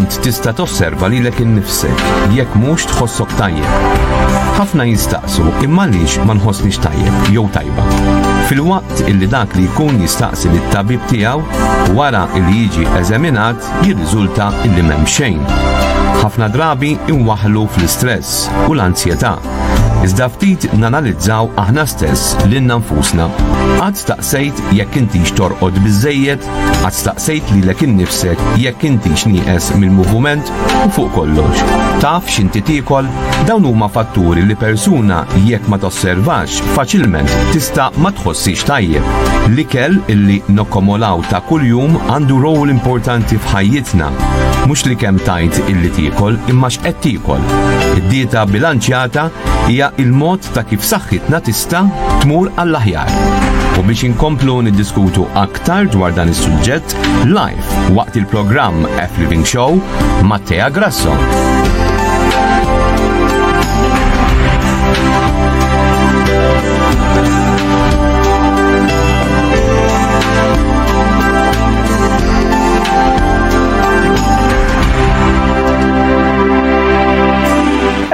int tista' tosserva lilek innifsek jekk mhux tħossok tajjeb. Ħafna jistaqsu imma għaliex ma nħossniex tajjeb jew tajba. Filwaqt illi dak li jkun jistaqsi lit tabib tiegħu wara li jiġi eżaminat jirriżulta illi m'hemm xejn. Ħafna drabi inwaħlu fl-istress u l-anzjetà. Iżda ftit nanalizzaw aħna stess lilna nfusna. Qatt staqsejt jekk intix torqod biżejjed Għad staqsejt lilek innifsek jekk intix nieqes mill-moviment u fuq kollox. Taf x'inti tiekol? Dawn huma fatturi li persuna jekk ma tosservax faċilment tista' ma tħossix tajjeb. L-ikel illi nokkomolaw ta' kuljum għandu rol importanti f'ħajjitna. Mhux li kemm tajt illi tiekol imma x'qed tiekol. Id-dieta bilanċjata hija il-mod ta' kif saħħitna tista' tmur għall-aħjar. U biex inkomplu niddiskutu aktar Aktar dwar dan is-suġġett live waqt il-programm F Living Show ma' Tea Grasso.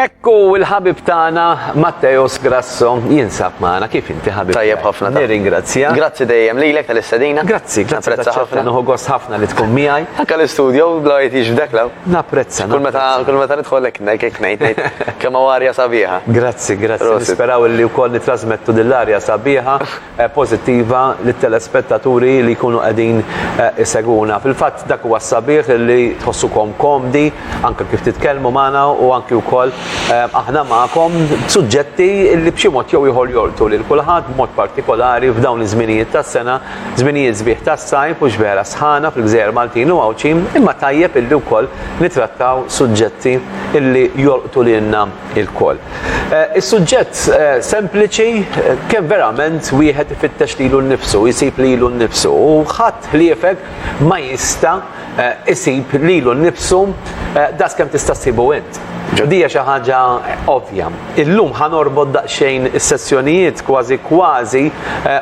Ekku il-ħabib tagħna Matteos Grasso. Passo jinsab magħna kif inti ħabib. Tajjeb ħafna. Nirringrazzja. Grazzi dejjem lilek tal-istedina. Grazzi, grazzi ħafna. ħafna. Nuħu gost ħafna li tkun miegħi. Anke l-istudio bla jtix f'dak law. Napprezza. Kull meta kull meta nidħol hekk ngħid ngħid kemm arja sabiħa. Grazzi, grazzi. Nisperaw li wkoll nitrasmettu dil-arja sabiħa eh, pożittiva lit telespettaturi li jkunu qegħdin eh, iseguna. Fil-fatt dak huwa sabiħ li tħossukom komdi anke kif titkellmu magħna u anke wkoll eh, aħna magħkom suġġetti li b'xi mod jew ieħor jolqtu lil kulħadd b'mod partikolari f'dawn iż-żminijiet tas-sena, żminijiet sbieħ tas-sajf u x'vera sħana fil-gżejjer Maltin u Għawdxin, imma tajjeb illi wkoll nitrattaw suġġetti illi jolqtu lilna ilkoll. Eh, is-suġġett eh, sempliċi eh, kemm verament wieħed ifittex lilu nnifsu, jsib lilu nnifsu u ħadd ħliefek ma jista' isib lilu nnifsu das kemm tista' ssibu int. Ġodija xi ħaġa ovvja. Illum ħanorbod daqsxejn is-sessjonijiet kważi kważi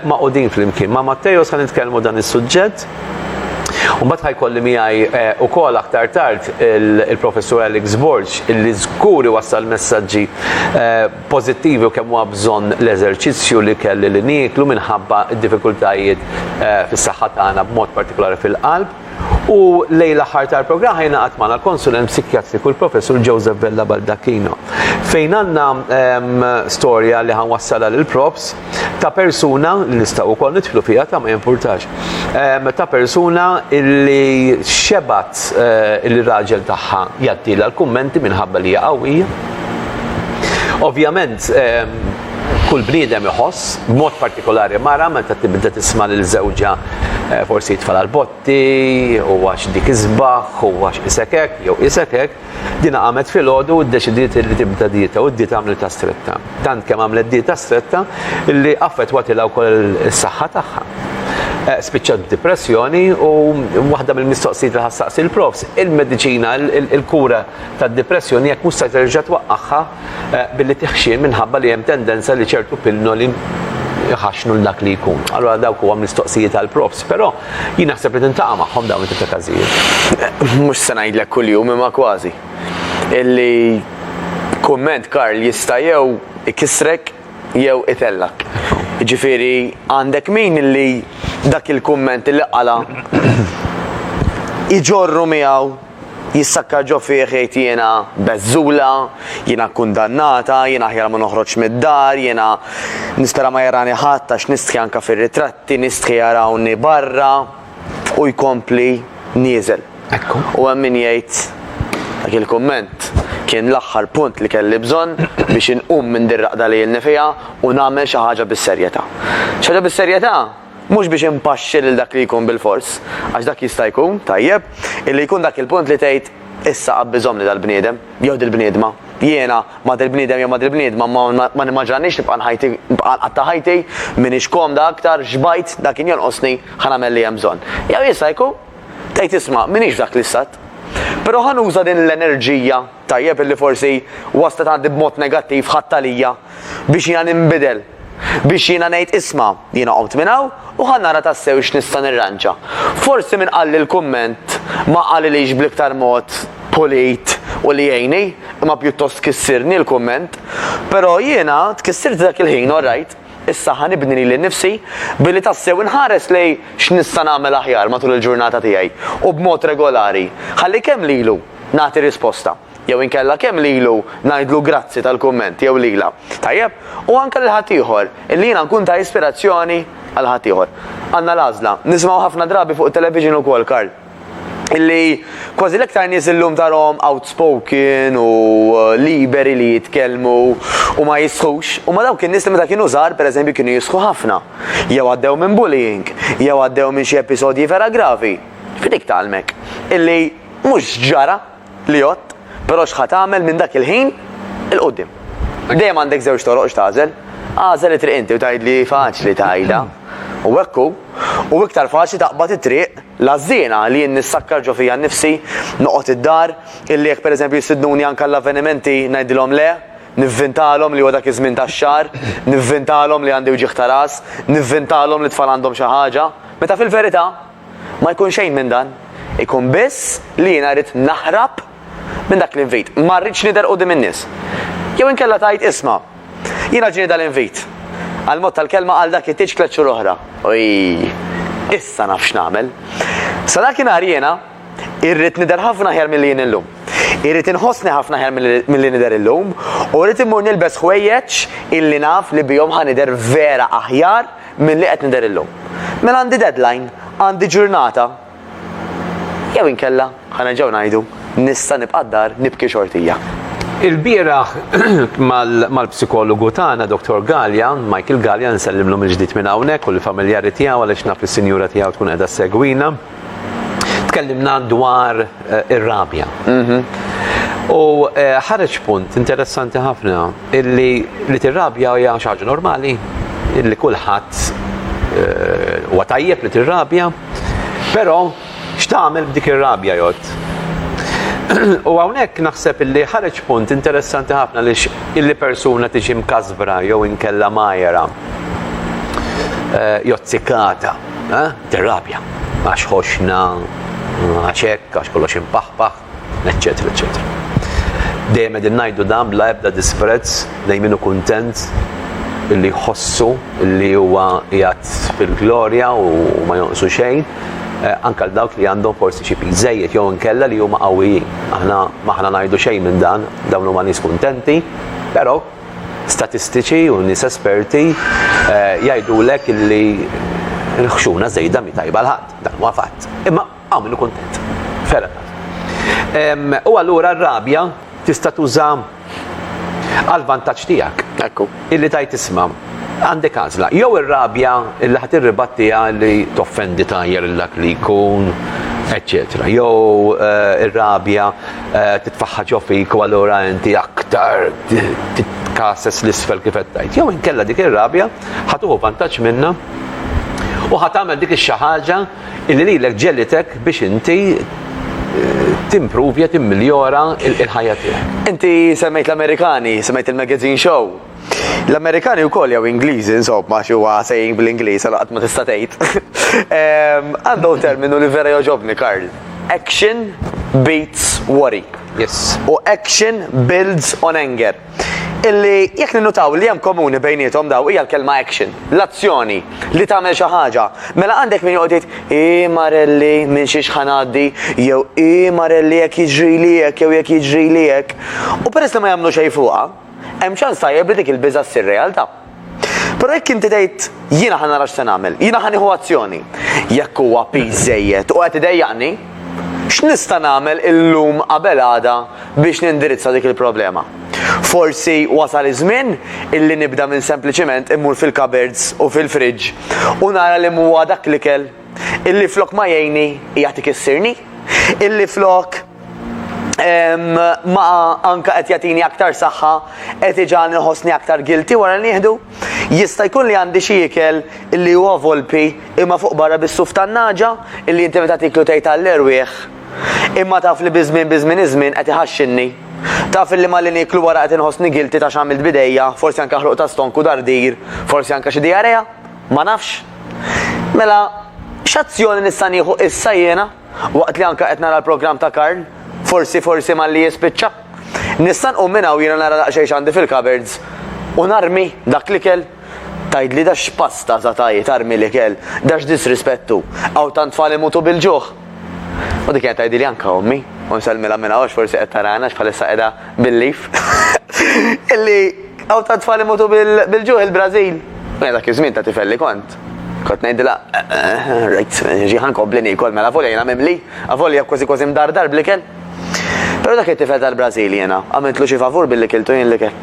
maqudin flimkien. Ma' Matteo se nitkellmu dan is-suġġett U mbagħad ħa jkolli miegħi wkoll aktar tard il-Professur Alex Borg illi żgur iwassal messaġġi pożittivi u kemm huwa bżonn l-eżerċizzju li kelli li nieklu minħabba d-diffikultajiet fis-saħħa tagħna b'mod partikolari fil-qalb. U lejn l-aħħar tal-programm ħa jingħaqad magħna l-Konsulent Psikjatriku l-Professur Joseph Vella Baldacchino fejn għandna storja li ħa nwassalha lill-Profs. ta' persuna li nistgħu wkoll nidħlu fiha ta' ma jimpurtax. Ehm, ta' persuna li xebat eh, il-raġel tagħha jattila l-kummenti minħabba li hija qawwija. Ovvjament, ehm, kull bniedem iħoss, b'mod partikolari mara meta tibda tisma' lil żewġa eh, forsi jitfal għal botti, u għax dik iżbaħ, u għax isekek, jew isekek, Dina qamet filgħodu u ddeċidiet li tibda dieta u d-dieta għamlitha stretta. Tant kemm għamlet dieta stretta li affettwatilha wkoll is-saħħa tagħha. Eh, spiċċat b'dipressjoni u waħda mill-mistoqsijiet li ħassaqsi l-profs, il-mediċina, il-kura tad-dipressjoni jekk mhux se terġa' twaqqagħha billi tiħxien minħabba li hemm tendenza li ċertu pinnoli jħaxnu l-dak li jkun. Allora dawk huwa mistoqsijiet għal props, però jien naħseb li tintaqa' magħhom dawn it-tip ta' każijiet. Mhux se ngħidlek kuljum imma kważi. Illi kumment Karl jista' jew ikissrek jew itellak. Ġifieri għandek min illi dak il-kumment li qala' iġorru miegħu Jissakka ġo fih jgħid jiena beżżula, jiena kkundannata, jiena aħjar ma noħroġx mid-dar, jiena nispera ma jarani ħadd għax nistħi anke fir-ritratti, nistħi jarawni barra u jkompli nieżel. U hemm min jgħid dak il-kumment kien l-aħħar punt li kelli bżonn biex inqum minn dir-raqda li ilni fiha u nagħmel xi ħaġa bis-serjetà. Xi ħaġa bis-serjetà? Mhux biex impaxxi lil dak li jkun bilfors, għax dak jista' jkun, tajjeb, illi jkun dak il-punt li tgħid, Issa qabbiżhomli dal-bniedem, jew dil-bniedma. Jiena, ma' dil-bniedem jew ma' dil-bniedma, ma nimmaġinaniex nibqa' nħajti, nibqa' nqatta' ħajti, m'iniex komda aktar, xbajt, dak kien jonqosni, ħa nagħmel li hemm bżonn. Jew jista' jkun, tgħid isma', m'iniex f'dak l-istat. Però ħa nuża din l-enerġija, tajjeb, illi forsi waslet għandi b'mod negattiv, ħadtha lija. biex jiena ninbidel, biex jiena ngħid isma', jiena qomt minn hawn u ħa nara tassew x'nista' nirranġa. Forsi min qalli l-kumment ma qalilix bl-iktar mod pulit u li jgħinni, imma pjuttost kissirni l-kumment. Però jiena tkissirt dak il-ħin, orrajt, issa ħa nibni lili nnifsi billi tassew inħares lejn x'nista' nagħmel aħjar matul il-ġurnata tiegħi u b'mod regolari, ħalli kemm lilu nagħti risposta. Jew inkella kemm lilu ngħidlu grazzi tal-kumment jew lilha. Tajjeb? U anke lil ħaddieħor, illi jiena nkun ta' ispirazzjoni għal ħaddieħor. Għandna l-għażla. Nisimgħu ħafna drabi fuq it-television ukoll, Karl, illi kważi l-iktar nies illum tarahom outspoken u liberi li jitkellmu u ma jistħux, huma dawk in-nies li meta kienu żgħar, pereżempju, kienu jistħu ħafna. Jew għaddew minn bullying, jew għaddew minn xi episodji vera gravi. F'dik tgħallmek illi mhux ġara. Li għodt, però x'ħa tagħmel minn dak il-ħin 'il quddiem? Dejjem għandek żewġ toroq x'tagħżel. Agħżel it-triq inti u tgħidli faċli tgħidha. U hekk hu. U iktar faċli taqbad it-triq l-għażżiena li jien nissakkar ġo fija nnifsi, noqgħod id-dar, illi jekk pereżempju jistidnuni anke għall-avvenimenti ngħidilhom le, nivvintalhom li huwa dak iż-żmien tax-xahar, nivvintalhom li għandi wġigħ ta' ras, nivvintalhom li t-tfal għandhom xi ħaġa, meta fil-verità, Ma jkun xejn minn dan. Ikun biss li jiena rrid naħrab minn dak l-invit. Ma rridx nidher quddiem in-nies. Jew inkella tgħid, isma', jiena ġieni dal-invit. Għall-mod tal-kelma għal dak it-tieġ tliet xhur oħra. Oj! Issa naf x'nagħmel. Sa dak inhar jiena irrid nidher ħafna aħjar milli jien illum. Irrid inħossni ħafna aħjar milli nidher illum u rrid immur nilbes ħwejjeġ illi naf li bihom ħa nidher vera aħjar Milli qed nidher illum. Mela għandi deadline, għandi ġurnata. Jew inkella, ħa nerġgħu ngħidu, nista' nibqa' d-dar nibki xortija. Ilbieraħ mal-psikologu tagħna Dottor Galea, Michael Galea, nsellimlu mill-ġdid minn hawnhekk u lill-familjari tiegħu għaliex naf li s-sinjura tiegħu tkun qiegħda ssegwina. Tkellimna dwar eh, ir-rabja. Mhm. U eh, ħareġ punt interessanti ħafna illi li tirrabja hija xi ħaġa normali, illi kulħadd eh, huwa tajjeb li tirrabja, però x'tagħmel b'dik ir-rabja jgħod? U hawnhekk naħseb illi ħareġ punt interessanti ħafna li illi persuna tiġi mkasbra jew inkella majera eh, jozzikata. Eh? Tirrabja għax ħoxna, għax hekk, għax kollox impaħpaħ, eċċetera, eċċetera. Dejjem qegħdin ngħidu dan bla ebda disprezz lejn minnu kuntent li jħossu li huwa jgħat fil-glorja u ma jonqsu xejn, eh, anka dawk li għandhom forsi xi żejjed jew inkella li huma qawwijin. Aħna maħna ngħidu xejn minn dan, dawn huma nies kuntenti, però Statistiċi u nies esperti jgħidulek li l-ħxuna żejda mhi tajba għal ħadd. Dan huwa fatt. Imma hawn min hu kuntent. Fair enough. U allura r-rabja tista' tuża għall-vantaġġ tiegħek. Ekku. Illi tgħid isma', għandek għażla. Jew ir-rabja li ħa tirribattiha li toffendi tajjeb lil dak li jkun, eċċetera. Jew ir-rabja titfaħħa ġo fik u allura inti aktar titkases l-isfel kif qed tgħid. Jew inkella dik ir-rabja ħatuħu vantaġġ minna u ħat tagħmel dik ix-xi ħaġa li lilek ġelitek biex inti eh, timprovja, timmiljora il-ħajja tiegħek. Inti semmejt l-Amerikani, semmejt il-magazine show, L-Amerikani wkoll jew Ingliżi, insomma, xi huwa saying bl-Ingliż, għal qatt ma tista' tgħid. Ehm, għandhom terminu li vera joġobni, Karl. Action beats worry. Yes. U action builds on anger. Illi jekk ninnutaw li hemm komuni bejnietom daw hija l-kelma action, l-azzjoni li tagħmel xi ħaġa. Mela għandek min joqgħod jgħid i marelli minn xi xħanaddi jew i marelli jekk jiġri li hekk jew jekk jiġri li hekk. U peress li ma jagħmlu xejn fuqha, hemm ċans tajjeb li dik il-biża' ssir realtà. Però jekk inti tgħid, jiena ħa nara x'se nagħmel, jiena ħa nieħu azzjoni, jekk huwa piż żejjed u qed idejjaqni, x'nista' nagħmel illum qabel għada biex nindirizza dik il-problema? Forsi wasal iż-żmien illi nibda minn sempliċiment immur fil-cupboards u fil-fridge u nara li m'huwa dak l-ikel illi flok ma jgħinni jagħti kissirni, illi flok ma anka qed jagħtini aktar saħħa qed iġan iħossni aktar gilti wara li nieħdu. Jista' jkun li għandi xi ikel li huwa volpi imma fuq barra bis-suf tan-naġa illi inti meta tiklu tgħid għall-erwieħ. Imma taf li biżmien biżmien iż-żmien qed iħaxxinni. Taf li ma li niklu wara qed inħossni gilti ta' x'għamilt bidejja, forsi anke ħluq ta' stonku dardir, forsi anke xi diarea, ma nafx. Mela, x'azzjoni nista' nieħu issa jiena? Waqt li anke qed nara l-programm ta' Karl, forsi forsi malli jispiċċa. Nista' nqum minn hawn jiena nara daqsxejn x'għandi fil-cupboards u narmi dak l-ikel? Tgħidli da x'pasta sa tajt tarmi l-ikel, da x'disrispett hu, hawn tant tfal imutu bil-ġuħ! U dik kienet tgħidilha anke ommi, u nsellmilha minn hawn għax forsi qed tarana għax bħalissa qiegħda bil-leaf, illi hawn tant tfal imutu bil-ġuħ il-Brażil! U jiena dak iż-żmien ta' tifel li kont, Kont ngħidilha, rajt, ġi ħankompli niekol mela volja jiena mimli, avolja kważi kważi mdardar bl-ikel. Però dak it-tifel tal-Brażil jiena, għamiltlu xi favur billi kiltu jien l-ikel.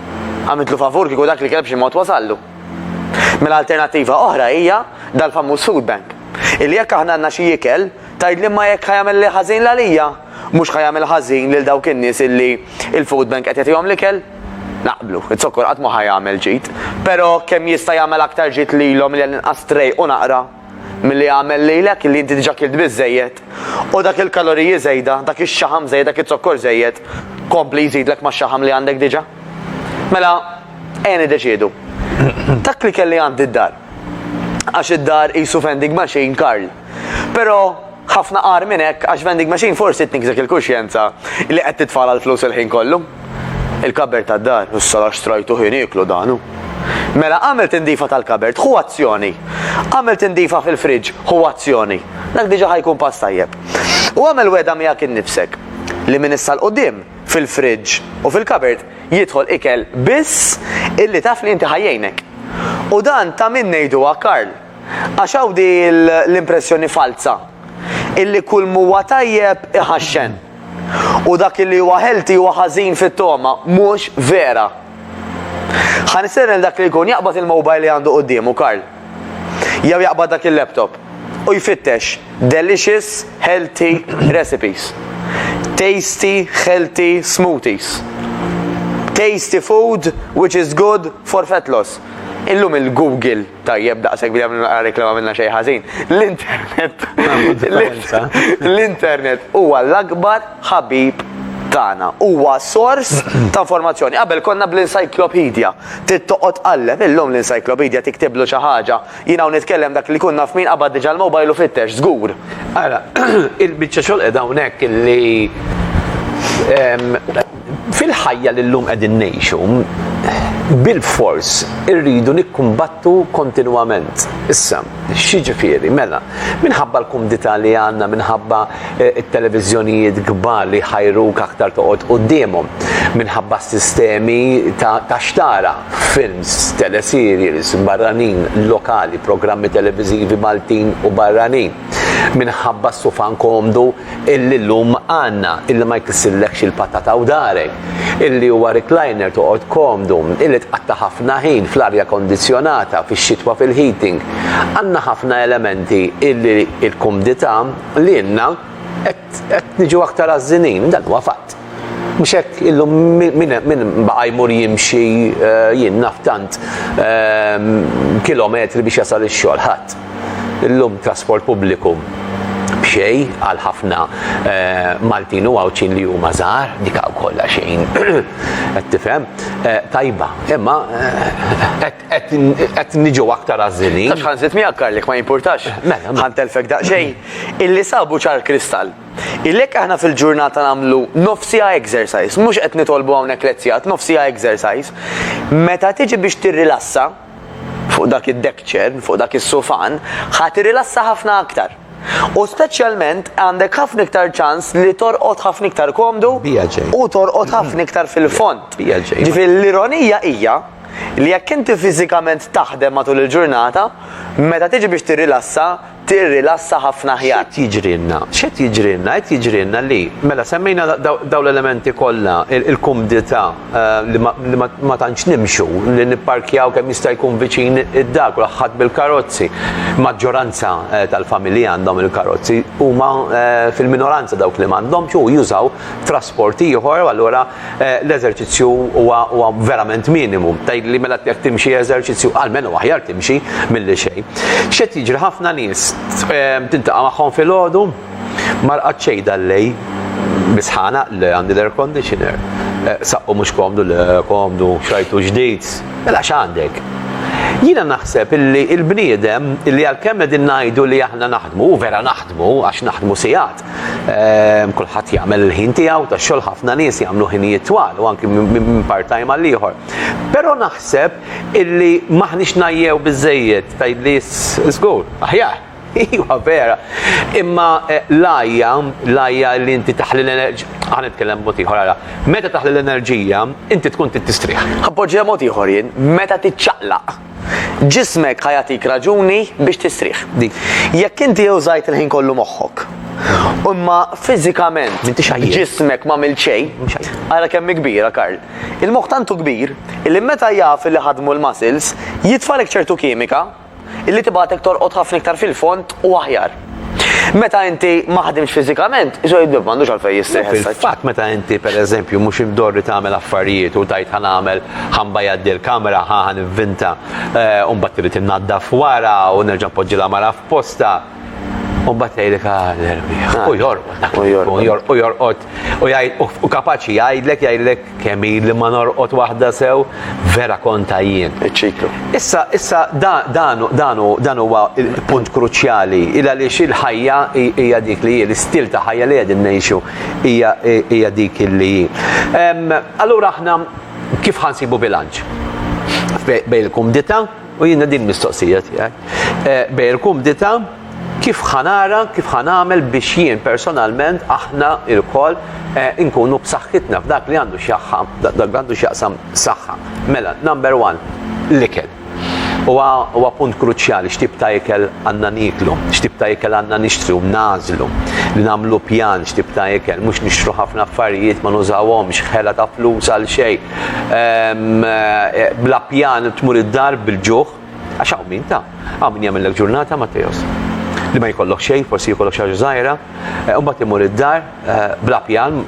Għamiltlu favur kieku dak l-ikel b'xi mod wasallu. Mela alternattiva oħra hija dal-famuż food bank. Illi jekk aħna għandna xi ikel, tgħidli imma jekk ħa jagħmel ħażin l għalija, mhux ħa jagħmel ħażin lil dawk in-nies illi l-food bank qed jagħtihom l-ikel? Naqblu, iz-zokkor qatt mhu ħa jagħmel ġid, pero' kemm jista' jagħmel aktar ġid lilhom li għall-inqas trejqu naqra milli jagħmel lilek illi inti diġa' kilt biżżejjed u dak il-kaloriji żejda, dak ix-xaħam żejjed, dak iz-zokkor żejjed kompli jżidlek max-xaħam li għandek diġa'? Mela, ejja niddeċiedu. Dak li kelli għandi d-dar. għax id-dar qisu vending machine Karl. Però ħafna agħar minn hekk għax vending machine forsi tnikżek il-kuxjenza li qed titfala l-flus il-ħin kollu. Il-kabert tad-dar, issa għax strajtu ħin iklu danu. Mela għamel tindifa tal-kabert, hu azzjoni. Għamel tindifa fil-friġġ, hu azzjoni. Dak diġa ħajkun pass tajjeb. U għamel weda miegħek innifsek li minn issa l-qudiem fil-friġġ u fil-kabert jidħol ikel biss illi taf li inti ħa jgħinek. U dan ta' min ngħiduha Karl, għax hawn di l-impressjoni falza illi kull m'huwa tajjeb iħaxxen. U dak illi huwa healthy huwa ħażin fit-togħma, mhux vera. Ħa nistieden lil dak li jkun jaqbad il-mobile li għandu quddiemu Karl. jew jaqbad dak il-laptop u jfittex delicious healthy recipes, tasty healthy smoothies, tasty food which is good for fat loss. Illum il-Google, tajjeb daqshekk billi għamilna naqra reklama minna xejn ħażin, l-internet l-internet huwa l-akbar ħabib tagħna, huwa sors ta' informazzjoni. Qabel konna bl-encyclopedia. Trid toqgħod tqalleb, illum l-encyclopedia tiktiblu xi ħaġa. Jien hawn nitkellem dak li jkun naf min qabad diġà l-mobile u fittex, żgur. Ara, il-biċċa xogħol qiegħda hawnhekk li fil-ħajja li llum qegħdin ngħixu bilfors irridu nikkumbattu kontinwament. Issa, X'jiġifieri? Mela, minħabba l-kumdità li għandna, minħabba t-televiżjonijiet kbar li jħajruk aktar toqgħod quddiemhom, minħabba s-sistemi ta' x'tara, films, teleserials, barranin, lokali, programmi televiżivi Maltin u barranin, minħabba s-sufan komdu, illi llum għandna, illi ma jkissillekx il-patata u darek, illi huwa recliner toqgħod komdu, illi tqatta' ħafna ħin fl-arja kondizzjonata, fix-xitwa fil-heating. Għandna ħafna elementi illi l-kumdità lilna qed niġu aktar għażżinin, dan huwa fatt. Mhux hekk illum min baqa' jmur jimxi jien naf tant kilometri biex jasal ix-xogħol, ħadd. Illum trasport pubbliku b'xejn għal ħafna Maltin u Għawdxin li huma żgħar, dik kollha xejn qed tifhem, tajba, imma qed niġu aktar għażilin. Taf x'ħa nżid miegħek Karl jekk ma jimpurtax? Mela. Ħa ntellfek daqsxejn. Illi sabu ċar kristall. Ilhekk aħna fil-ġurnata nagħmlu nofsiha exercise, mhux qed nitolbu hawnhekk lezzjat, nofsiha exercise. Meta tiġi biex tirrilassa fuq dak id-deck chair, fuq dak is-sufan, ħa tirrilassa ħafna aktar. U speċjalment għandek ħafna iktar ċans li torqod ħafna iktar komdu u torqod ħafna iktar fil-fond. Ġifieri l-ironija hija li jekk inti fiżikament taħdem matul il-ġurnata, meta tiġi biex tirrilassa, tirrilassa ħafna aħjar. X'qed jiġrilna? X'qed jiġrilna? Qed jiġrilna li mela semmejna dawn l-elementi kollha, il-kumdità li ma tantx nimxu, li nipparkjaw kemm jista' jkun viċin id-dar, kulħadd bil-karozzi. Maġġoranza tal-familji għandhom il-karozzi, huma fil-minoranza dawk li m'għandhomx u jużaw trasport ieħor, allura l-eżerċizzju huwa huwa verament minimu. Tgħidli mela jekk timxi eżerċizzju almenu aħjar timxi milli xejn. X'qed jiġri ħafna nies ehm, tintaqa' magħhom filgħodu ma rqad xejn dal-lej bisħana li għandi l-air conditioner. Eh, saqqu mhux komdu le komdu xajtu ġdid. Mela x'għandek? Jiena naħseb illi il-bniedem illi għalkemm qegħdin ngħidu li aħna naħdmu, vera naħdmu għax naħdmu sigħat, Ehm, kulħadd jagħmel il-ħin tiegħu ta' xogħol ħafna nies jagħmlu ħinijiet twal u anki minn part-time għal ieħor. Però naħseb illi maħniex najjew biżejjed tgħidli żgur, aħjar. Iwa vera. Imma eh, lajja, lajja li inti taħli l-enerġija. Għan nitkellem mod ieħor ara. Meta taħli l-enerġija, inti tkun tistrieħ. Appoġġja mod ieħor jien, meta tiċċaqlaq. Ġismek ħa jagħtik raġuni biex tistrieħ. Jekk inti użajt il-ħin kollu moħħok, Imma fiżikament ġismek ma mill xejn, ara kemm kbira Karl. Il-moħħ tantu kbir li meta jaf li ħadmu l-muscles jitfalek ċertu kimika illi tibgħatek torqod ħafna iktar fil-fond u aħjar. Meta inti ma ħdimx fiżikament, iso id-dib m'għandux għalfejn jistrieħ issa. Fatt meta inti pereżempju mhux imdorri tagħmel affarijiet u tajt ħa nagħmel ħa nbajjaddi l-kamra, ħa ħa nivvinta, u mbagħad trid innaddaf wara u nerġa' npoġġi l-għamara f'postha, u mbagħad jgħidlek ah l-erbi. U jorqod dak u jorqod u jorqod u jgħid u kapaċi jgħidlek jgħidlek Kemm ili ma norqod waħda sew, vera konta jien. Iċ-ċiklu. Issa, issa dan huwa punt kruċjali, il għaliex il-ħajja hija dik li hi, l-istil ta' ħajja li qegħdin ngħixu hija dik li hi. Allura aħna kif ħansibu bilanċ? Bejn il-kumdità, U jiena din mistoqsija tiegħek. Eh, Bejr kumdita kif ħanara, kif ħanamel biex jien personalment aħna il-kol eh, inkunu b'saħħitna f'dak li għandu xjaħħa, dak għandu xjaqsam saħħa. Mela, number one, l-ikel. Huwa punt kruċjali x'tib ta' ikel għandna niklu, x'tib ta' ikel għandna nixtru, nażlu, li nagħmlu pjan x'tib ta' ikel, mhux nixtru ħafna affarijiet ma nużawhomx, ħela ta' flus għal xejn, Bla pjan tmur id-dar bil-ġuħ, għax hawn min ta, hawn min jagħmillek ġurnata Matteos. Li ma jkollok xejn, forsi jkollok xi ħaġa żgħira, eh, u mbagħad imur id-dar eh, bla pjan,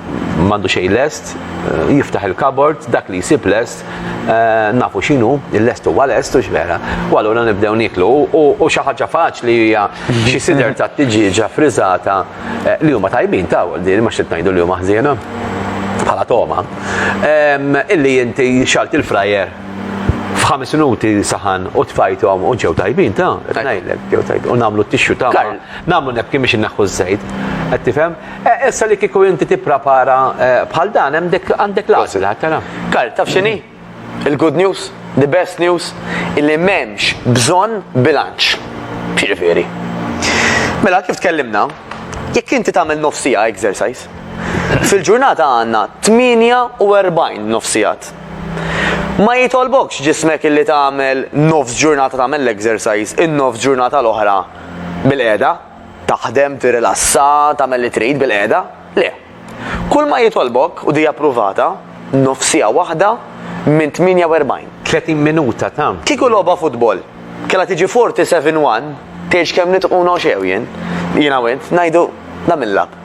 m'għandu xejn lest, eh, jiftaħ il-kabord, dak li jsib lest, nafu x'inhu, il-lest huwa lest u x'vera. U allura nibdew niklu u xi ħaġa faċli hija xi sider ta' tiġiġa friżata Eh, li huma tajbin ta' din ma xit ngħidu li huma ħżiena bħala toma. Illi inti xalt il-frajer f'ħames minuti saħan u tfajtom u ġew tajbin ta' ngħidlek ġew tajbin u nagħmlu t-tixxu ta' nagħmlu nebki biex inneħħu ż-żejt. Qed tifhem? Eh, issa li kieku inti tipprepara eh, bħal dan hemm għandek l-għażla tara. Karl taf x'inhi? Il-good news, the best news, illi m'hemmx bżonn bilanċ. X'jiġifieri? Mela kif tkellimna, jekk inti tagħmel nofsija exercise, fil-ġurnata għandna 48 nofsijat. Ma jitolbokx ġismek illi tagħmel nofs ġurnata tagħmel l-exercise, in-nofs ġurnata l-oħra bil-qiegħda, taħdem, tirrilassa, tagħmel li trid bil-qiegħda. Le, Kulma jitolbok u di appruvata, nofsiegħa waħda minn 48. 30 minuta ta'. Kieku logħba futbol kellha tiġi 47 one, tgħidx kemm nitquna u x'ew jien, jiena u int, ngħidu dan mill-lab.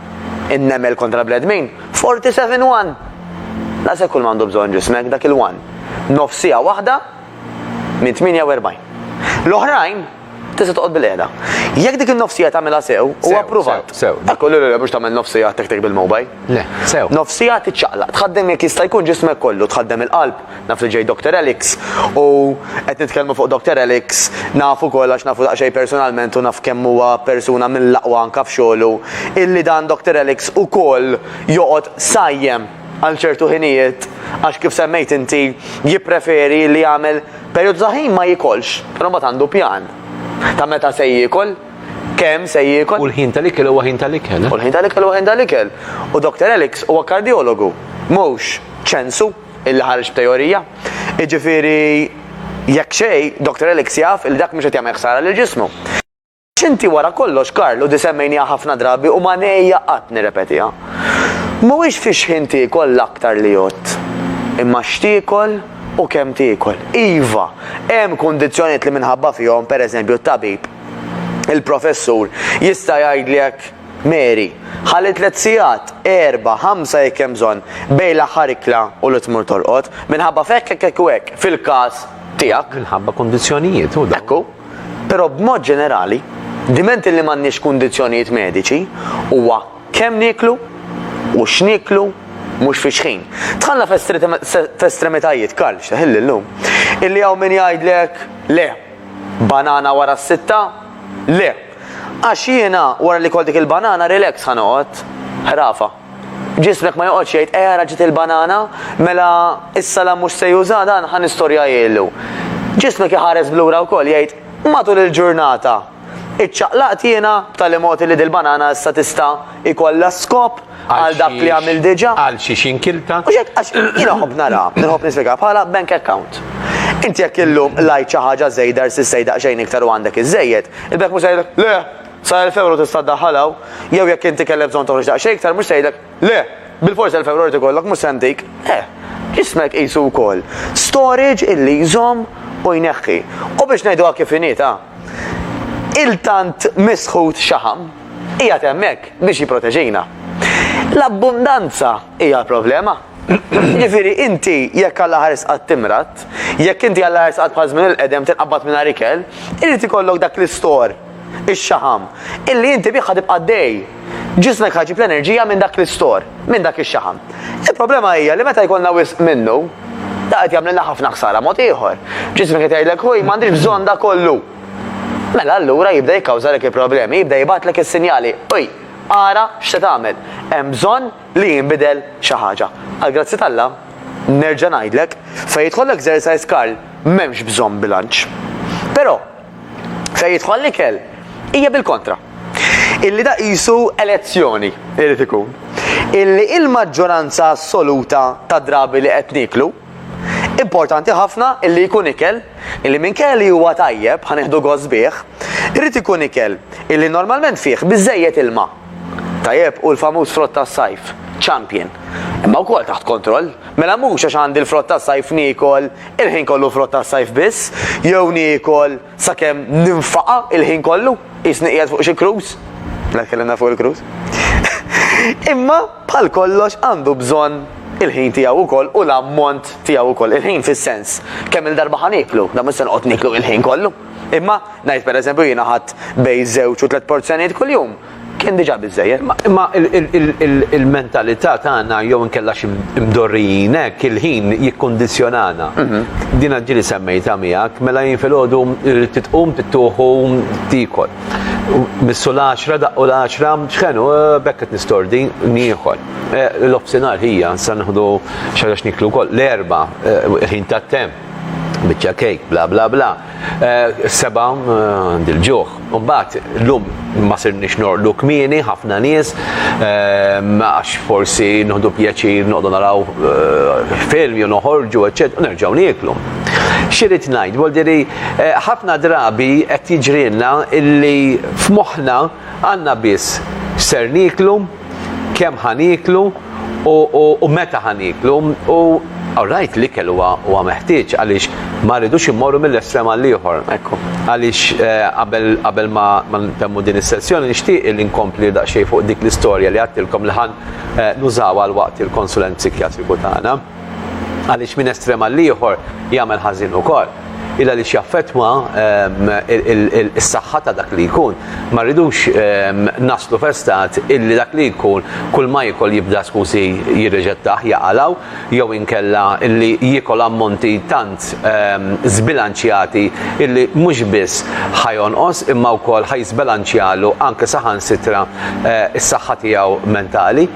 In-nemel kontra l-bnedmin, 47 one! Daqshekk kulma għandu bżonn ġismek, dak il-one, nofsiegħa waħda minn 48. L-oħrajn, Tista' toqgħod bil-qiegħda. Jekk dik in-nofsija tagħmilha sew, u appruvat. Sew. Dak kollu li mhux tagħmel nofsija tek tek bil-mobile. Le, sew. Nofsija tiċċaqlaq, tħaddem jekk jista' jkun ġismek kollu, tħaddem il-qalb, naf li ġej Dr. Alex, u qed nitkellmu fuq Dr. Alex, naf ukoll għax nafu daqsxejn personalment u naf kemm huwa persuna mill-aqwa anke f'xogħlu, illi dan Dr. Alex ukoll joqgħod sajjem. għal ċertu ħinijiet għax kif semmejt inti jippreferi li jagħmel perjodu ta' ħin ma jikolx, però mbagħad għandu pjan ta' meta se jiekol, kemm se jiekol. U l-ħin tal-ikel huwa ħin tal-ikel. Eh? U l-ħin tal-ikel huwa ħin tal-ikel. U Dr. Alex huwa kardjologu, mhux ċensu illi ħarġ b'teorija. Iġifieri jekk xej, Dr. Alex jaf il dak mhux qed jagħmel ħsara lill-ġismu. Inti wara kollox, Karl, u di semmejniha ħafna drabi u ma ngħejja qatt nirrepetiha. Mhuwiex fi xħin tiekol l-aktar li jgħodd, imma x'tiekol u kemm tiekol. Iva, hemm kundizzjonijiet li minħabba fihom, pereżempju, t-tabib, il-professur, jista' jgħidlek, Mary, ħalli tliet sigħat, erbgħa, ħamsa jekk hemm bżonn, bejn l-aħħar ikla u li tmur torqod, minħabba f'hekk, hekk, hekk u hekk, fil-każ tiegħek. Minħabba kundizzjonijiet, hu dak. Ekku. Però b'mod ġenerali, diment li m'għandniex kundizzjonijiet mediċi, huwa kemm nieklu u x'nieklu mhux fix-xħin. Dħalna f'estremitajiet, Karl, x'teħilli llum, illi hawn min jgħidlek, le, banana wara s-sitta, le, għax jiena wara li kol dik il-banana relax ħa noqgħod ħrafa. Ġismek ma joqgħodx jgħid eh ara ġiet il-banana, mela is-salam mhux se juża dan ħa nistorja jgħilu. Ġismek iħares blura wkoll jgħid matul il-ġurnata iċċaqlaqt jiena b'tali mod li dil-banana issa tista' ikollha skop għal dak li għamil diġà. Għal xiex inkilta. U xek għax jiena ħobb nara, nħobb nispjega bħala bank account. Inti jekk illum lajt xi ħaġa żejda rsi sejda xejn iktar u għandek iż-żejjed, il-bank mhux le, Sa 1000 ewro tista' ddaħħal hawn, jew jekk inti kellek bżonn toħroġ daqsxejn iktar mhux se jgħidlek, le! Bilfors 1000 ewro jrid ikollok mhux se ntik. Eh, ġismek qisu wkoll storage illi jżomm u jneħħi. U biex ngħiduha kif inhi ta' il-tant misħut xaħam qiegħed hemmhekk biex jipproteġina. L-abbundanza hija l-problema. Ġifiri, inti jekk għalla ħares għad timrat, jekk inti għalla ħares għad bħazmin il-qedem tinqabbat minna rikel, irrit ikollok dak l-istor ix-xaħam, illi inti bih ħa tibqa' għaddej. Ġismek ħa jġib l-enerġija minn dak l-istor, minn dak ix-xaħam. Il-problema hija li meta jkollna wisq minnu, da qed jagħmlilna ħafna ħsara mod ieħor. Ġismek qed jgħidlek ħuj m'għandix bżonn da kollu. Mela allura jibda jikkawżalek il-problemi, jibda jibgħatlek is-sinjali, uj, ara x'se tagħmel. Hemm bżonn li jinbidel xi ħaġa. Għal grazzi t'Alla, nerġa' ngħidlek, fejn jidħol l-exercise Karl m'hemmx bżonn bilanċ. Però, fejn jidħol l-ikel hija bil-kontra. Illi da qisu elezzjoni irid ikun. Illi il-maġġoranza assoluta ta' drabi li qed niklu importanti ħafna illi jkun ikel illi minn kelli huwa tajjeb ħaneħdu gost bih, irid ikun ikel illi normalment fih biżejjed ilma. Tajjeb, hu l-famuż frott tas-sajf, Champion. Imma wkoll taħt kontroll. Mela mhux għax għandi l-frott tas-sajf niekol il-ħin kollu frott tas-sajf biss, jew niekol sakemm ninfaqa' il-ħin kollu, qisni qiegħed fuq xi cruise. Mela tkellimna fuq il-cruise. Imma bħal kollox għandu bżonn il-ħin tiegħu wkoll u l-ammont tiegħu wkoll. Il-ħin fis-sens kemm-il darba ħa nieklu, dan mhux se noqgħod nieklu il-ħin kollu. Imma, ngħid pereżempju jiena ħadd bejn żewġ u tliet porzjonijiet kuljum, kien diġà biżejjed. Imma il-mentalità tagħna jew inkella xi mdorrijin hekk il-ħin jikkundizzjonana. Mhm. Din ġieli semmejta miegħek, mela jien filgħodu rrid titqum tittuħu tikol. Missu l-10 daqqu l-10 x'ħenu eh, bekk qed nistordi nieħol. Eh, l-ofsinhar ħija sa nieħdu xi ħaġa x'niklu wkoll l-erba' eh, il-ħin tat-temp. biċċa kejk, bla bla bla. Eh, seba għandi l-ġuħ. Umbat, l-lum ma sirnix norqdu kmini, ħafna nies, eh, għax forsi nħdu pjaċir noqdu naraw eh, film, jew noħorġu, eccet, u nerġaw nieklu. Xirrit najt, voldiri, ħafna drabi qed jiġrilna illi f'moħħna għandna biss ser niklu kemm ħa nieklu u meta ħa nieklu u Alright, l-ikel huwa meħtieġ għaliex ma rridux immorru mill-estrem għal ieħor. Ekku. Għaliex eh, qabel ma ntemmu din is-sessjoni nixtieq li nkompli daqsxejn fuq dik l-istorja li għattilkom li ħan eh, nużaw għal waqt il-konsulent psikjatriku tagħna. għaliex minn estrem għal ieħor jagħmel ħażin ukoll illa li xjaffetwa is-saħħa ta' dak li jkun. Ma rridux naslu festat illi dak li jkun kull ma jikol jibda skusi jirreġettaħ jaqalaw jew inkella illi jikol ammonti tant zbilanċjati illi mhux biss ħajonqos imma wkoll ħajżbilanċjalu anke saħansitra eh, is-saħħa tiegħu mentali.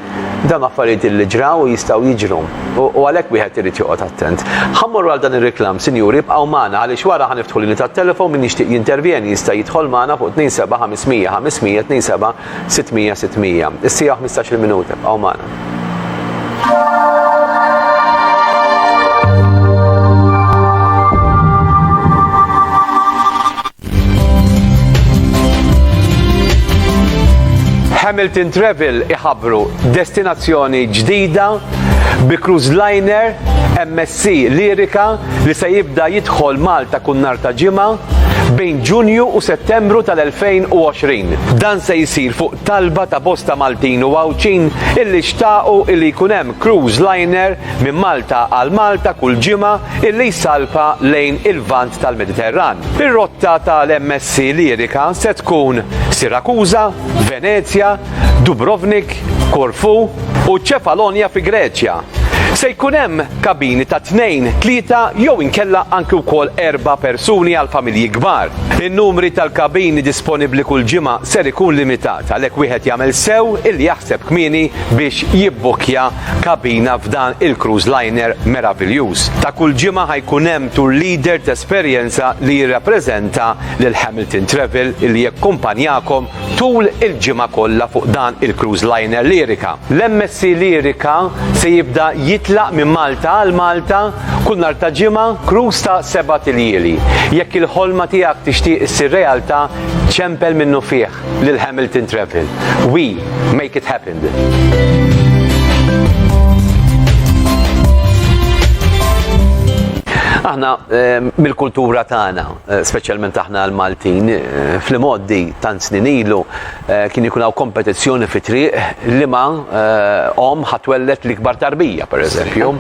Dawn affarijiet illi ġraw u jistgħu jiġru, u għalhekk wieħed irid joqgħod attent. Ħa mmorru għal dan ir-reklam, sinjuri, ibqgħu magħna għaliex wara ħa niftħu linji tat-telefon min jixtieq jintervjeni jista' jidħol magħna fuq 27 500 500 27 600 600. Is-siegħa u ħmistax il-minuta, ibqgħu magħna. Hamilton Travel iħabru destinazzjoni ġdida bi cruise liner MSC Lirika li se jibda jidħol Malta kun nar ta' ġimgħa bejn Ġunju u Settembru tal-2020. Dan se jsir fuq talba ta' bosta Maltin u Għawdxin illi xtaqu illi jkun hemm cruise liner minn Malta għal Malta kull ġimgħa li jsalpa lejn il-Lvant tal-Mediterran. Ir-rotta tal-MSC Lirika se tkun Sirakuża, Venezja, Dubrovnik, Korfu u Ċefalonja fi Greċja. Se jkun hemm kabini ta' tnejn, tlieta jew inkella anki wkoll erba' persuni għal familji kbar. In-numri tal-kabini disponibbli kull ġimgħa ser ikun limitat għalhekk wieħed jagħmel sew illi jaħseb kmieni biex jibbukkja kabina f'dan il-cruise liner meraviljuż. Ta' kull ġimgħa ħa jkun hemm tour leader t'esperjenza li jirrappreżenta lil Hamilton Travel li jakkumpanjakom tul il-ġimgħa kollha fuq dan il-cruise liner Lyrica. L-MSC Lyrica se jibda jitlaq minn Malta għal Malta kull nhar ta' ġimgħa, cruise ta' sebat iljieli. Jekk il-ħolma tiegħek tixtieq issir realtà, ċempel minnufih! lil Hamilton Travel. We make it happen. Aħna ehm, mill-kultura tagħna, eh, speċjalment aħna l-Maltin, eh, fl-imoddi tant snin ilu eh, kien ikun hawn kompetizzjoni fi triq li ma om ħatwellet l-ikbar tarbija, pereżempju.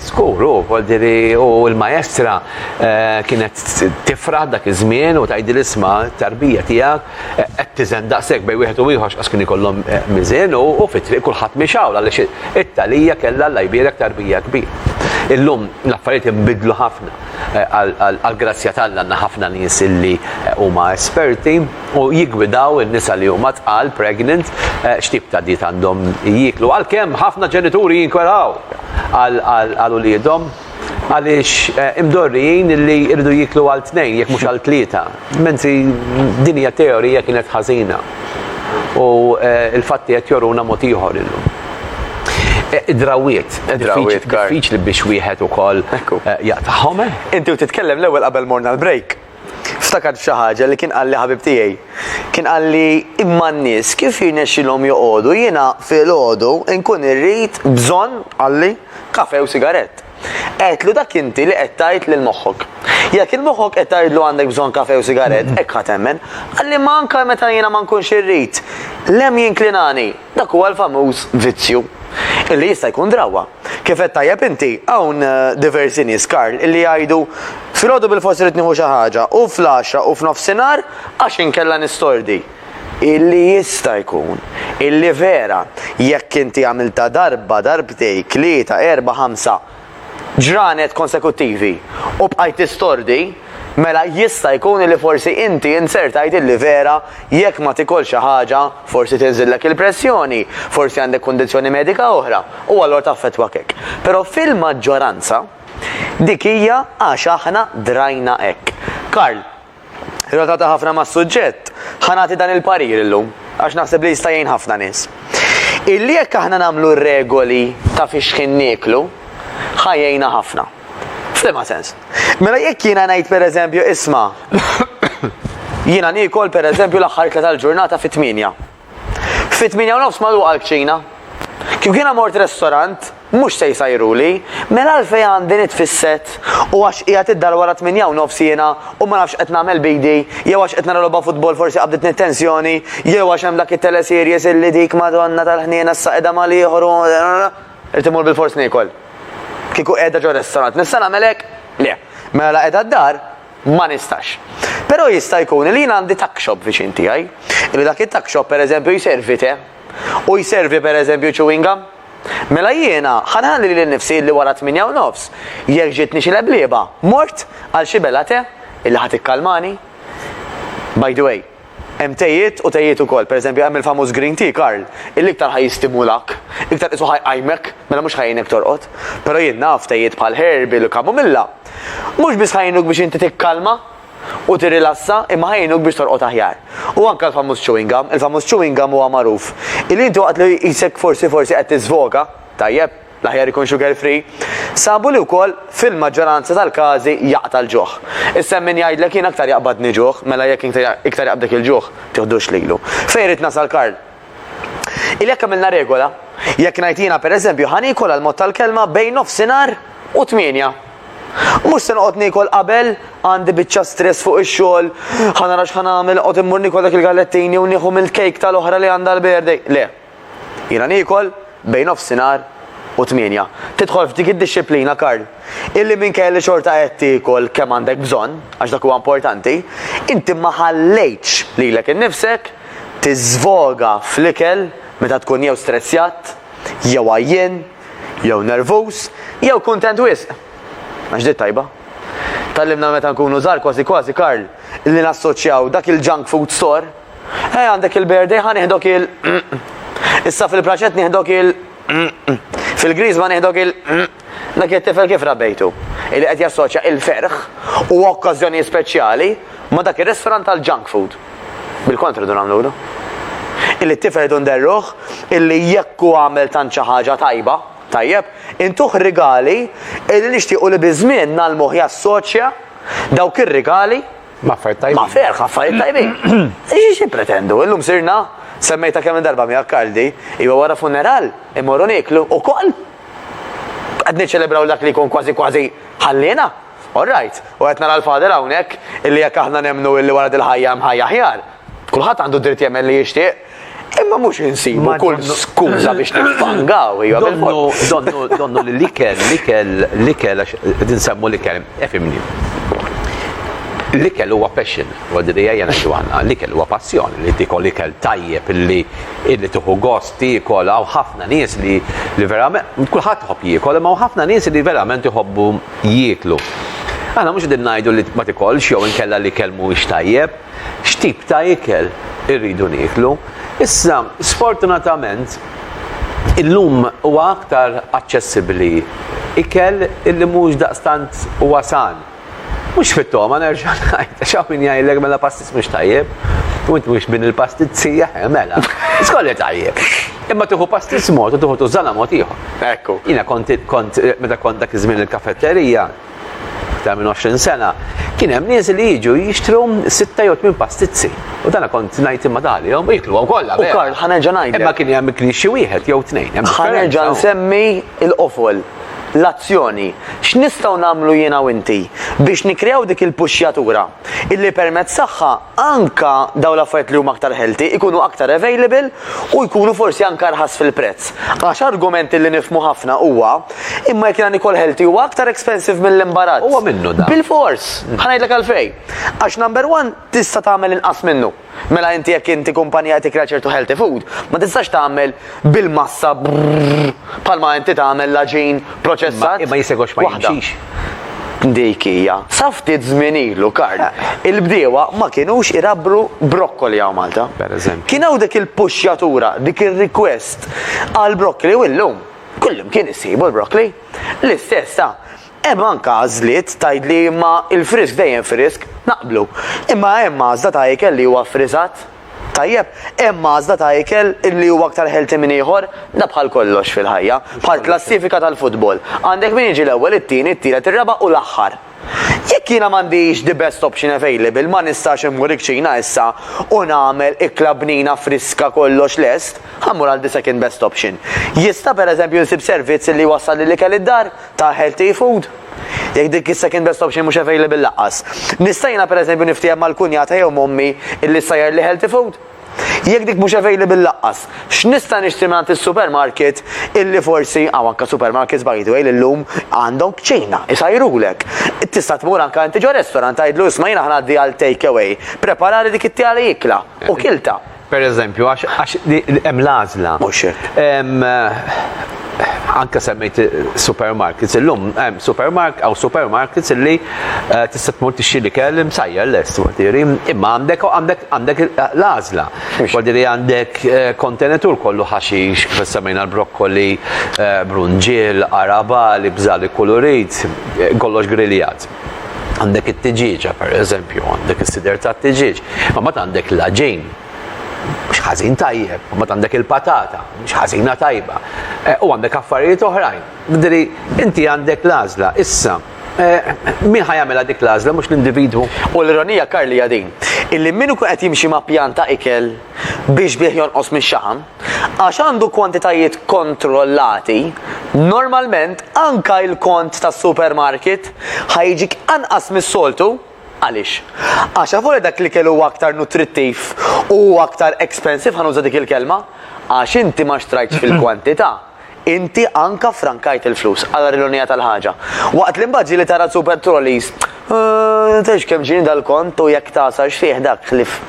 Żgur, u voldiri u l-maestra eh, kienet tifraħ dak iż-żmien u tajdi l-isma tarbija tiegħek eh, qed tiżen daqshekk bej wieħed u ieħor x'qas kien ikollhom eh, miżen u fit-triq kulħadd mixawl għaliex it-talija kellha l jbierek tarbija kbir. Illum l-affarijiet inbidlu ħafna għal-grazzja tal-għanna ħafna nies illi huma esperti u jiggwidaw in-nisa li huma tqal, pregnant, x'tip ta' dieta għandhom jieklu. Għalkemm ħafna ġenituri jinkweraw għal uliedhom għaliex imdorrijin li jridu jieklu għal tnejn jekk mhux għal tlieta, mentri din hija teorija kienet ħażina u l-fatti qed joruna mod ieħor illum. Id-drawwiet. Id-drawwiet, Karl. Diffiċli biex wieħed ukoll jaqtagħhom. Inti u titkellem l-ewwel qabel morna l-break. Ftakart f'xi ħaġa li kien qalli ħabib tiegħi. Kien qalli imma n-nies kif jirnexxilhom joqogħdu jiena filgħodu nkun irrid bżonn, qalli, kafe u sigarett. Għedtlu dak inti li qed tgħid lil moħħok. Jekk il moħħok qed tgħidlu għandek bżonn kafe u sigarett, hekk ħa temmen. Qalli imma anke meta jiena ma nkunx irrid, l-hemm jinklinani. Dak huwa l-famuż vizzju. Illi jista' jkun drawwa. Kif għedt tajjeb inti, hawn diversi nies, Karl, illi jgħidu, Filgħodu bilfors irrid nieħu xi ħaġa, u fl-għaxra u f'nofsinhar għax inkella nistordi. Illi jista' jkun, illi vera, jekk inti għamiltha darba, darbtejk, tlieta, erbgħa, ħamsa ġranet konsekuttivi u bqajt tistordi, mela jista' jkun illi forsi inti inzertajt illi vera jekk ma tikolx xi ħaġa, Forsi tinżillek il-pressjoni, forsi għandek kundizzjoni medika oħra, u allura taffettwak hekk. Però fil-maġġoranza, dik hija għax aħna drajna hekk. Karl, relatata ħafna mas-suġġett, ħa nagħti dan il-parir illum, għax naħseb li jista' jgħin ħafna nies. Illi jekk aħna nagħmlu regoli ta' fiex ħin nieklu, ħa jgħinna ħafna. F'liema sens. Mela jekk jiena ngħid pereżempju isma' jiena niekol pereżempju l-aħħar ikla tal-ġurnata fit-tmienja. Fit-tmienja u nofs magħluqa l-kċina. Kif jiena mort restorant, mhux se jsajruli, mela għalfejn għandi nitfisset u għax qiegħed id-dar wara tmienja u nofs jiena u ma nafx qed nagħmel b'idi, jew għax qed nara logħba futbol forsi qabditni t-tensjoni, jew għax hemm dak it-teleseries illi dik Madonna tal-ħniena issa qiegħda mal-ieħor u Irid immur bilfors niekol. Kieku qiegħda ġo restorant nista' nagħmel hekk? Le. Mela la qiegħda d-dar ma nistax. Però jista' jkun li jien għandi tuck shop viċin tiegħi, li dak it-tuck shop pereżempju jservi te u jservi pereżempju chewing gum. Mela jiena ħa nħalli lili nnifsi illi wara t-tmienja u nofs, jekk ġietni xi leblieba, mort għal xi bela te illi ħa tikkalmani. By the way, Hemm tejiet u tejiet ukoll. Pereżempju, hemm il-famuż green tea, Karl, illi iktar ħa jistimulak, iktar qisu ħa jqajmek, mela mhux ħa jgħinek torqod. Però jien naf tejiet bħal herbal u chamomilla, mhux biss ħa jgħinuk biex inti tikkalma u tirrilassa, imma ħa jgħinuk biex torqod aħjar. U anke l-famuż chewing gum, il-famuż chewing gum huwa magħruf illi inti waqt li jqisek forsi forsi qed tiżvoga, tajjeb, l-aħjar ikun sugar free, sabu li wkoll fil-maġġoranza tal-każi jaqta' l-ġuħ. Issa hemm min jgħidlek jien aktar jaqbadni ġuħ, mela jekk iktar jaqbdek il-ġuħ, tiħdux lilu. Fejn rrid nasal Karl? Illi jekk għamilna regola, jekk ngħid jiena pereżempju ħa niekol għal mod tal-kelma bejn nofsinhar u tmienja. Mhux se noqgħod niekol qabel, għandi biċċa stress fuq ix-xogħol, ħa nara x'ħa nagħmel, qod immur niekol dak il-gallettini u nieħu mill-kejk tal-oħra li għandha l-birthday. Le, Jiena niekol bejn nofsinhar u tmienja. Tidħol f'dik id-dixxiplina, Karl, illi minkejja li xorta qed tiekol kemm għandek bżonn, għax dak huwa importanti, inti ma ħallejtx lilek innifsek tiżvoga fl-ikel meta tkun jew strezzjat, jew għajjien, jew nervuż, jew kuntent wisq. Għax di t-tajba. Tgħallimna meta nkunu żgħar kważi kważi, Karl, li nassoċjaw dak il-junk food store, Hej għandek il-birthday ħa nieħdok il Issa fil-braċet nieħdok il Fil-griż ma nieħdok il Dak it-tifel kif rabbejtu? Illi qed jassoċja il-ferħ u okkażjoni speċjali ma dak ir-restaurant tal-junk food. Bil-kontra dun għamlu Illi t-tifel dun derruħ illi jekku għamel tant xi ħaġa tajba, tajjeb, intuħ rigali illi nixtiequ li biżmien nal-moħ jassoċja dawk ir-rigali Ma affarijiet tajbin. Ma ferħ affarijiet tajbin. Ixi xi pretendu, illum sirna semmejta kemm darba mi akkaldi, iwa wara funeral, imorru niklu u koll. Qed niċċelebraw dak li jkun kważi kważi ħallina. All right, u qed nara l-fader hawnhekk illi jekk aħna nemmnu illi wara dil-ħajja hemm ħajja ħjar. Kulħadd għandu dritt jemmen li jixtieq. Imma mhux insibu kull skuża biex niffangaw, hija Donnu, donnu, donnu li l-ikel, l-ikel, l-ikel, għax din semmu l-ikel, efimni. L-ikel huwa passion, għadri għajja najdu għanna, l-ikel huwa passjoni li tikol l-ikel tajjeb illi illi tuħu gost tikol għaw ħafna nies li li verament, kullħat tħobb jikol, imma ħafna nies li verament jħobbu jiklu. Aħna mhux din ngħidu li ma tikolx jew inkella li kelmu mhuwiex tajjeb. x'tip ta' ikel irridu nieklu. Issa, sfortunatament, illum huwa aktar aċċessibbli ikel illi mhux daqstant huwa san. Mhux fit-togħma nerġa' ngħid, għax hawn min jgħidlek mela pastis mhux tajjeb, u int mhux min il-pastizzija, eh, mela, żkolli tajjeb. Imma tieħu pastis mod u tieħu tużana mod ieħor. Ekku. Jiena kont, meta kont dak iż-żmien il-kafetterija, aktar minn 20 sena, kien hemm nies li jiġu jixtru sitta jew tmien pastizzi. U dana kont ngħid imma dalihom jiklu kollha. U Karl ħanerġa' ngħid. Imma kien hemm ikli xi wieħed jew tnejn. Ħanerġa' nsemmi l-qofol, l-azzjoni. X'nistgħu nagħmlu jiena u inti biex nikkreaw dik il-puxxjatura illi permezz tagħha anke dawn l-affarijiet li huma aktar healthy ikunu aktar available u jkunu forsi anke arħas fil-prezz. Għax argument illi nifhmu ħafna huwa Imma jekk jagħni kol healthy huwa aktar expensive mill-imbarazz. Huwa minnu da. Bil-fors, ħanajdlek għalfej. Għax number one tista' tagħmel inqas minnu. Mela inti jekk inti kumpanija qed tikra ċertu healthy food, ma tistax tagħmel bil-massa bħalma inti tagħmel laġin proċessat. Imma jisegħux ma jimxix. Dik hija. Sa ftit żmien ilu, Karl, eh. il-bdiewa ma kienux irabbru brokkoli hawn Malta. Per eżempju. Kien hawn dik il-puxjatura, dik ir-request għal brokkoli u llum Kullimkien issibu l-broccoli. L-istess sa. Hemm anke għażliet tgħidli imma il-frisk dejjem frisk, naqblu. Imma hemm għażla ta' ikel li huwa ffriżat? Tajjeb, hemm għażla ta' ikel li huwa aktar healthy minn ieħor? Da bħal kollox fil-ħajja, bħall-klassifika tal-futbol. Għandek min jiġi l-ewwel, it-tieni, it-tielet, ir-raba' u l-aħħar. Jekk jiena m'għandix the best option available, ma nistax immur iċ-ċina issa u nagħmel ikla bnina friska kollox lest, ħa mmur għal the second best option. Jista' pereżempju nsib servizz li jwassalli l-ikel id-dar ta' healthy food? Jekk dik is-second best option mhux available lanqas. Nista' jiena pereżempju niftiehem mal-kunjata jew m'ommi illi ssajjarli healthy food? Jekk dik mhux available laqqas, x'nista' nixtri mingħand is-supermarket illi forsi hawn anke supermarkets by the way li llum għandhom kċina, isajrulek. Tista' tmur anke inti ġo restaurant tgħidlu isma' jiena ħnaddi għal take away, preparali dik it-tieqa li ikla u kiltha. Pereżempju, għax hemm l-għażla. Mhux hekk. anke semmejt supermarkets, illum hemm supermark għaw supermarkets illi eh, tista' tmur tixxi li kell imsajjar lest wadiri, imma għandek għandek għandek l-għażla. Wadiri għandek eh, kontenetur kollu ħaxix, kif semmejna l-brokkoli, eh, brunġiel, araba, li bżali kulurit, kollox griljat għandek it-tiġiġa per eżempju, għandek is-sider ta' tiġiġ, ma mat għandek l-ġin, mhux ħażin tajjeb, mbagħad għandek il-patata, mhux ħażina tajba, eh, u għandek affarijiet oħrajn. Bidri, inti għandek l-għażla, issa, eh, min ħajamela dik l-għażla mhux l-individwu. U l-ironija Karli din, illi min ikun qed jimxi ma' pjanta ikel biex bih jonqos minn xaħam, għax għandu kwantitajiet kontrollati, normalment anka il-kont tas-supermarket ħajġik anqas mis-soltu Għaliex? Għax avolja dak l-ikel huwa aktar nutrittiv u huwa aktar expensive, ħa nuża dik il-kelma, għax inti ma xtrajtx fil-kwantità, inti anka ffrankajt il-flus, ara l-ironija tal-ħaġa. Waqt li mbagħad ġieli tara l-super trolleys, tgħidx kemm ġieni dal-kont u jekk tagħsarx fih dak ħlief.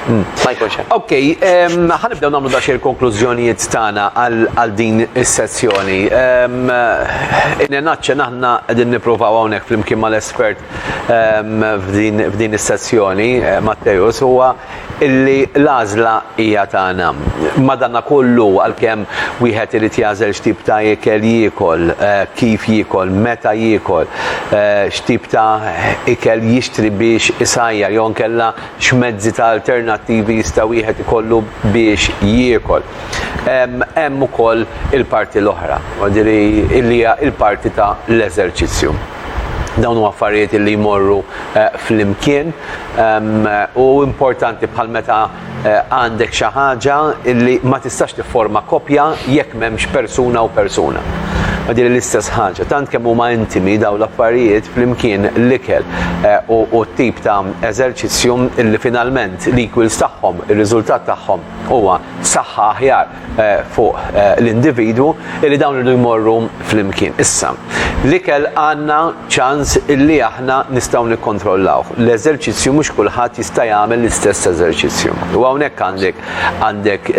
Hmm. Ma jkunx hemm. Ok, ehm, ħanibdew nagħmlu dax il-konklużjonijiet tagħna għal din is-sessjoni. Ehm, Inenacce naħna qegħdin nippruvaw hawnhekk flimkien mal-espert ehm, f'din is-sessjoni eh, Matteus huwa illi l-għażla hija tagħna. Madanna kollu għalkemm wieħed irid jażel x'tip ta' ikel jiekol, eh, kif jiekol, meta jiekol, x'tip ta' ikel jixtri biex isajjar jew inkella x'mezzi ta' alternattivi jista' wieħed ikollu biex jiekol. Hemm ukoll il-parti l-oħra, jiġifieri li hija l-parti ta' l-eżerċizzju. Dawn huma affarijiet li jmorru flimkien u importanti bħal meta għandek xi ħaġa li ma tistax tifforma koppja jekk m'hemmx persuna u persuna. Ma din l-istess ħaġa, tant kemm huma intimi daw l-affarijiet flimkien l-ikel eh, u t-tip ta' eżerċizzju li finalment l-equals tagħhom, ir-riżultat tagħhom huwa saħħa aħjar fuq l-individwu li dawn irdu jmorru flimkien. Issa, l-ikel għandna ċans illi aħna nistgħu nikkontrollawh. L-eżerċizzju mhux kulħadd jista' jagħmel l-istess eżerċizzju. U hawnhekk għandek għandek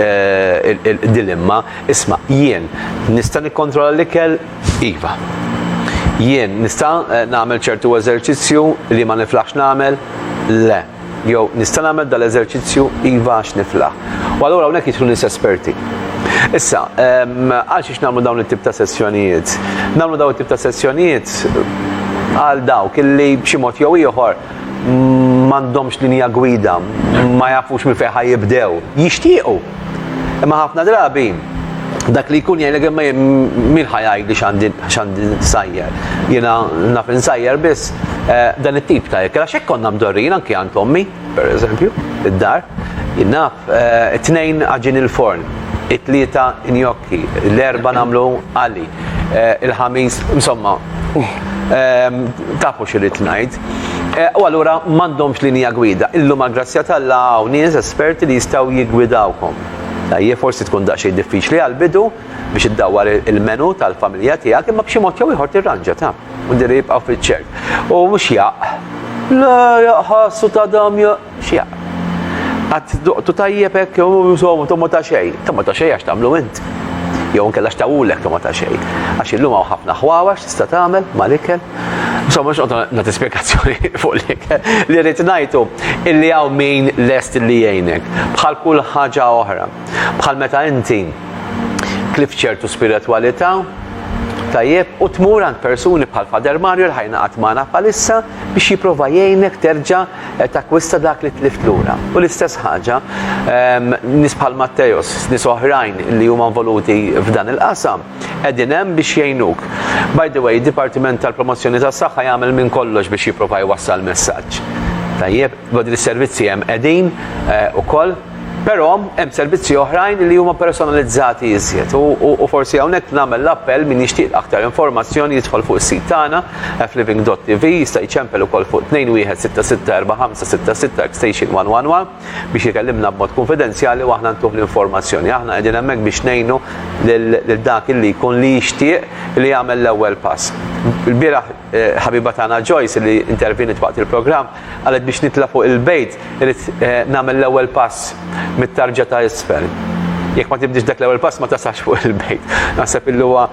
dilemma, isma' jien nista' nikkontrolla l-ikel? Iva. Jien nista' nagħmel ċertu eżerċizzju li ma niflaħx nagħmel? Le. Jew nista' nagħmel dal-eżerċizzju iva għax niflaħ. U allura hawnhekk jidħlu nies esperti. Issa, għal xiex nagħmlu dawn it-tip ta' sessjonijiet? Nagħmlu dawn it-tip ta' sessjonijiet għal dawk illi b'xi mod jew ieħor m'għandhomx linja gwida, ma jafux minn fejn jibdew. Jixtiequ Imma ħafna drabi dak li jkun jgħin l-għemma min ħajaj li xandi sajjer. Jena naf insajjer biss eh, dan it-tip ta' jekk. Għax konna mdorrin anki għand ommi, per eżempju, id-dar. Naf, eh, it-tnejn għagġin il-forn, it-tlieta njokki, l-erba namlu għali, eh, il-ħamis, insomma, ehm, tafu xirrit najd. U allura m'għandhomx linja gwida. Illum għall-grazzja t'Alla hawn nies esperti li jistgħu jiggwidawkom. Ejje, forsi tkun daqsxejn diffiċli għall-bidu biex iddawwar il-menu tal-familja tiegħek, imma b'xi mod jew ieħor tirranġa, taf. Mhux dejjem jibqgħu fiċ-ċert. U mhux jaqq. Le, jaqq ħass u tadam jaqq. X'jaq. Qatt duqtu tajjeb hekk jew insomma togħma ta' xejn. Togħma ta' xejn għax tagħmlu int. Jew inkella x'tawulek togħma ta' xejn. Għax illum hawn ħafna ħwawax tista' tagħmel mal-ikel. Insomma mhux qogħdu nagħti spjegazzjoni fuq l-ikel. Li rrid ngħidu illi hawn min lest li jgħinek. Bħal kull ħaġa oħra. Bħal meta inti klift ċertu spiritwalità, tajjeb, u tmur għand persuni bħal Father Mario li ħajnaqgħad magħna bħalissa biex jipprova jgħinek terġa' qed takkwista dak li tlift lura. U l-istess ħaġa ehm, nies bħal Matteos, nies oħrajn li huma involuti f'dan il-qasam, qegħdin hemm biex jgħinuk. By the way, id-Dipartiment tal-Promozzjoni tas-Saħħa jagħmel minn kollox biex jipprova jwassal messaġġ. Tajjeb, bad is-servizzi hemm qegħdin eh, ukoll Però hemm servizzi oħrajn li huma personalizzati iżjed u forsi hawnhekk nagħmel l-appell min jixtieq aktar informazzjoni jidħol fuq is-sit tagħna fliving.tv jista' jċempel ukoll fuq 21664566 extension 111 biex ikellimna b'mod kunfidenzjali u aħna ntuh l-informazzjoni. Aħna qegħdin hemmhekk biex ngħinu lil dak li jkun li jixtieq li jagħmel l-ewwel pass. Il-bieraħ Ħabiba tagħna Joyce li intervjeniet waqt il-programm qalet biex nitla' fuq il-bejt irid nagħmel l-ewwel pass mit-tarġa ta' isfel. Jekk ma tibdiex dak l-ewwel pass ma tasalx fuq il-bejt. Naħseb illi huwa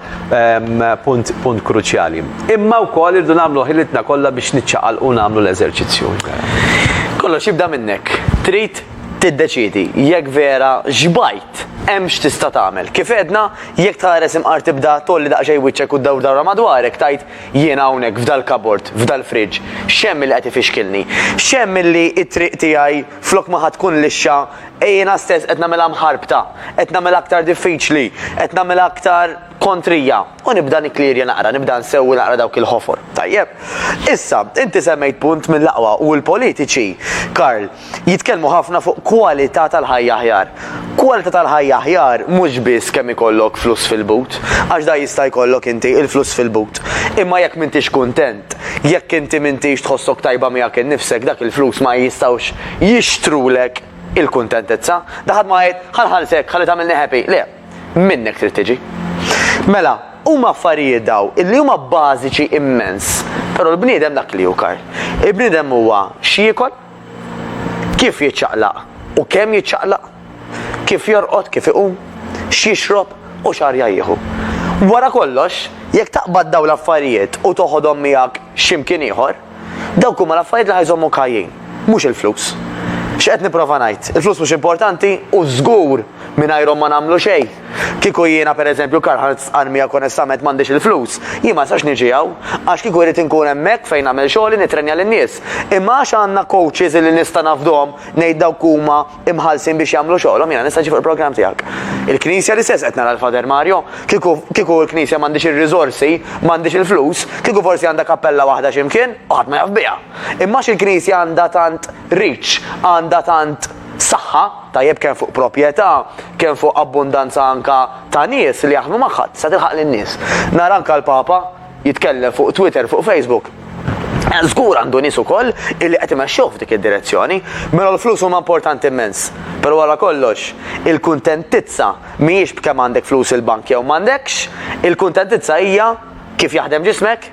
punt punt kruċjali. Imma wkoll irridu nagħmlu ħilitna kollha biex niċċaqalqu u nagħmlu l-eżerċizzju. Kollox jibda minnek. Trid tiddeċiedi jekk vera xbajt, hemm x'tista' tagħmel. Kif għedna, Jekk tħares imqar tibda tgħolli daqsxejn wiċċek u ddawr dawra madwarek tgħid jiena hawnhekk f'dal-kabord, f'dal-fridge, x'hemm li qed ifixkilni? X'hemm li t-triq tiegħi flok ma ħa tkun lixxa jiena stess qed nagħmilha mħarbta, qed nagħmilha aktar diffiċli, qed nagħmilha aktar kontrija? U nibda nikklierja naqra, nibda nsewwi naqra dawk il-ħofor. Tajjeb. Issa, inti semmejt punt mill-aqwa u l-politiċi, Karl, jitkellmu ħafna fuq kwalità tal-ħajja aħjar. Kwalità tal-ħajja aħjar mhux biss kemm ikollok flus fil-but, għax dan jista' jkollok inti, il-flus fil-but. Imma jekk m'intix kuntent, jekk inti m'intix tħossok tajba miegħek innifsek, dak il-flus ma jistgħux jixtrulek il-kuntentizza. Da ħadd ma jgħid, ħa nħallsek, ħalli tagħmilni happy. Le, minnek trid tiġi. Mela, huma affarijiet daw illi huma bażiċi immens, però l-bniedem dak li hu kar. Il-bniedem huwa x'jiekol, Kif jiċċaqlaq u kemm jiċċaqlaq, kif jorqod, kif iqum, x'jixrob u x'arja jieħu. Wara kollox, jekk taqbad dawn l-affarijiet u toħodhom miegħek xi mkien ieħor, dawk huma l-affarijiet li ħa jżommuk ħajjin, mhux il-flus. X'qed nipprova ngħid? Il-flus mhux importanti u żgur mingħajrhom ma nagħmlu xejn. Kieku jiena, per eżempju, Karl-Heinz Sqann miegħek onestament m'għandix il-flus, jien ma nistax niġi hawn, għax kieku rrid inkun hemmhekk fejn nagħmel xogħli nittrenja lin-nies. Imma għax għandna coaches illi nista' nafdhom, ngħid dawk huma imħallsin biex jagħmlu xogħolhom, jiena nista' niġi fuq il-programm tiegħek. Il-Knisja l-istess qed nara l-Father Mario, kieku kieku l-Knisja m'għandhiex ir-riżorsi, m'għandhiex il-flus, kieku forsi għandha kappella waħda xi mkien u ħadd ma jaf biha. Imma għax il-Knisja għandha tant reach, għandha tant. Saħħa, tajjeb kemm fuq proprjetà, kemm fuq abbundanza anka ta' nies li jaħdmu magħha, tista' tilħaq lin-nies. Nara anka l-Papa jitkellem fuq Twitter, fuq Facebook. Żgur għandu nies ukoll illi qed imexxuh f'dik id-direzzjoni. Mela l-flus huma importanti immens, però wara kollox, il-kuntentizza mhijiex b'kemm għandek flus il-bank jew m'għandekx, il-kuntentizza hija kif jaħdem ġismek.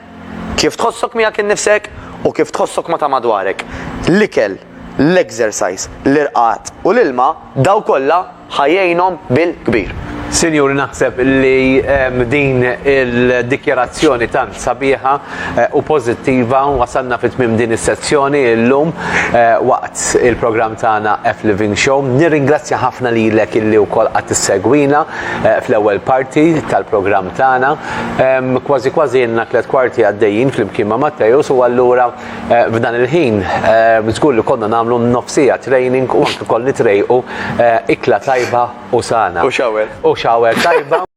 Kif tħossok miegħek innifsek u kif tħossok ma' ta' madwarek. L-ikel, l-exercise, l-irqad u l-ilma, dawn kollha ħa jgħinhom bil-kbir. Sinjuri naħseb li b'din il-dikjarazzjoni tant sabiħa u pożittiva wasalna fi tmiem din is-sezzjoni illum waqt il-programm tagħna F-Living Show. Nirringrazzja ħafna lilek illi wkoll qgħadt issegwina fl-ewwel parti tal-programm tagħna. Kważi kważi ilna tliet kwarti għaddejjin flimkien ma' Matteus u allura f'dan il-ħin żgur li konna nagħmlu nofsija training u anke wkoll nitrejqu ikla tajba u sana. U shower. U shower tajba.